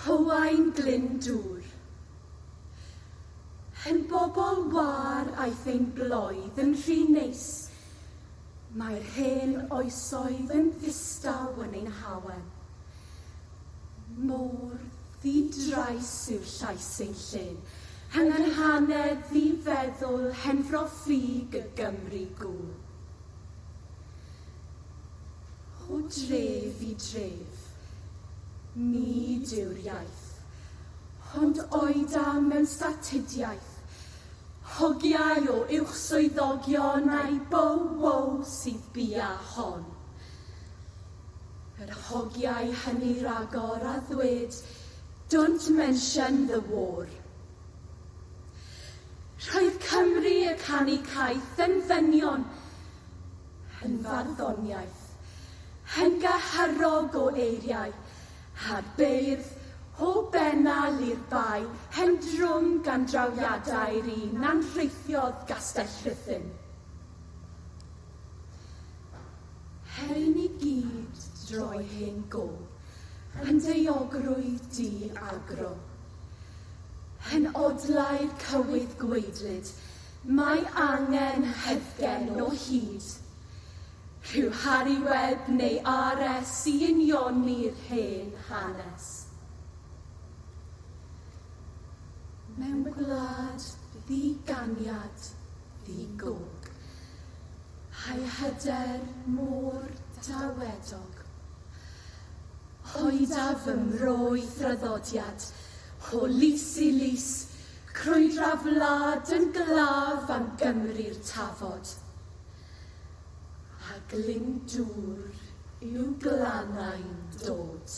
Hywau'n glyn dŵr. Hen bobl wâr aeth ein bloedd yn rhy neis. Mae'r hen oesoedd yn ddistaw yn ein hawel. Mor ddi-drais yw llais ein llên, hynganhanedd ddi-feddwl henfro ffug y Gymru gŵl. O dref i dref, nid yw'r iaith, ond oedam mewn statudiaeth, hogiau o uwchswyddogion a'i bow-wow sydd bia hon. Yr hogiau hynny ragor a ddwed Don't mention the war. Roedd Cymru y canu caeth yn ddynion, Hen farddoniaeth, hen gaharog o eiriau, a'r beirdd, o Bennal i'r Bae, hen drwm gan drawiadau'r un a'n rheithiodd Gastell Rhuthun. Hyn i gyd droi hen gof yn daeogrwydd di-agro. Hen odlau'r cywydd gwaedlyd, Mae angen heddgen o hyd. Rhyw Harri Webb neu RS i unioni'r hen hanes. Mewn gwlad ddi-ganiad, ddi-gog. Hai hyder mor dawedog. Hoida fy mro i thraddodiad, o lys i lys, Crwydra wlad yn glaf am Gymru'r tafod, a Glyndŵr i'w glannau'n dod.